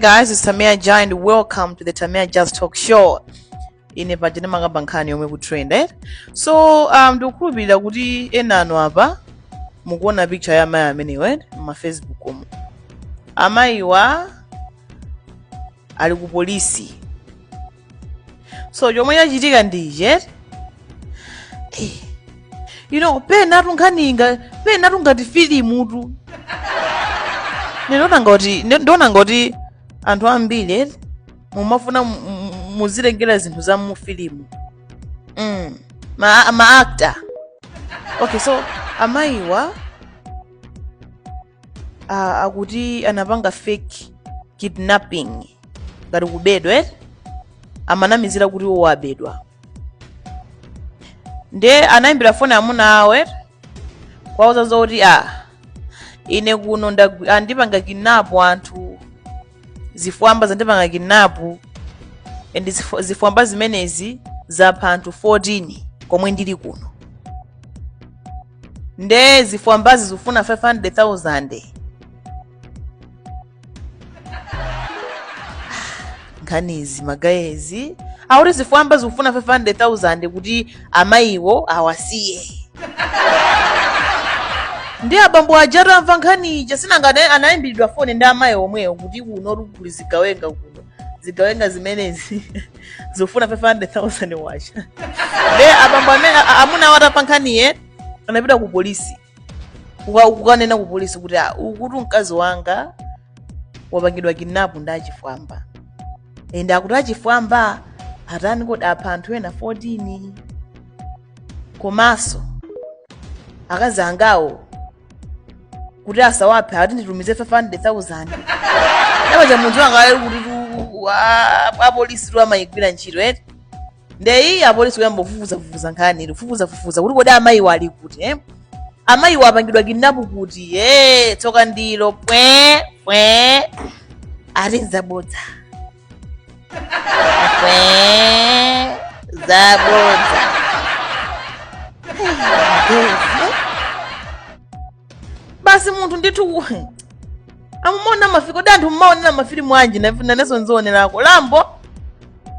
guys, it's Tamia Ja and welcome to the Tamia Just Talk Show. Ine paja ndimakamba nkhani yomwe ikutrend eh? So um, ndikukhulupirira kuti ena anu apa mukuona picture ya amayiwa amenewa eh? mma Facebook omo. Amayiwa ali ku polisi so chomwe chachitika ndi ichi eti Eh, you know penatu nkhanizi penatu ngati filimutu ndimaona ngati ndimaona ngati anthu ambiri eti mumafuna mu- mu- muzitengera zinthu za mu filimu mm. ma, ma actor okay so amayiwa ah, akuti anapanga fake kidnapping ngati kubedwa eti amanamizira kuti iwo abedwa nde anayimbira foni amuna awo eti kuwauza zoti a ine kuno ndagwi- andipanga kidnapu anthu zifwamba zandipanga kidnapu and zifo- zifwamba zimenezi zapha anthu 14 komwe ndili kuno nde zifwambazi zikufuna 500000 nkhanizi magayezi akuti zifwamba zikufuna 500000 kuti amayiwo awasiye nde abambo aja atamva nkhani ija si nanga anayimbiridwa foni ndi amayi omwewo kuti kuno kuli zigawenga kuno zigawenga zimenezi zikufuna 500000 kwacha nde abambo amene a- amuna awo atamva nkhaniyi anapita ku polisi kuka- kukanena ku polisi kuti "Ah, ukutu mkazi wanga wapangidwa kidnapu ndi achifwamba ende akuti achifwamba atani kodi apha anthu ena 14 komanso akazi angawo kuti asawaphe ati nditumize 500000 kwacha munthu wanga e kuti tu- a- apolisi tu amayigwira ntchito eti ndeyi apolisi kuyamba kufufuzafufuza nkhani ija kufufuzafufuza kuti kodi amayiwo ali kuti eh? amayiwo apangidwa kidnapu kuti e tsoka ndilo pwe pwe ati nzabodza zabodza basi munthu ndithu ku- amaonera mafi- kodi anthu mmaonera mafilimu anji ndifuna nanenso nzionerako Rambo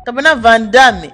kapena Van Damme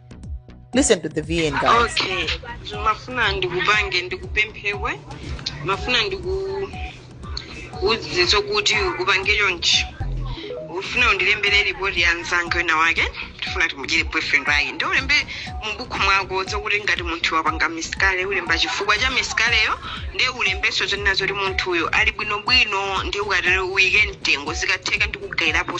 Listen to the VN guys. okay ndimafuna ndikupange ndikupemphe iwe ndimafuna ndikuuze zokuti upange chonchi ufuna undilembere ripoti ya mnzanga wina wake tifuna timudyere boyfriend wake ndi ulembe mubukhu mwako zokuti ngati munthu wapanga misikareji ulembe chifukwa cha misikarejiyo ndi ulembenso zonena zoti munthuyo ali bwinobwino ndi ukatero uike mtengo zikatheka ndikugayirapo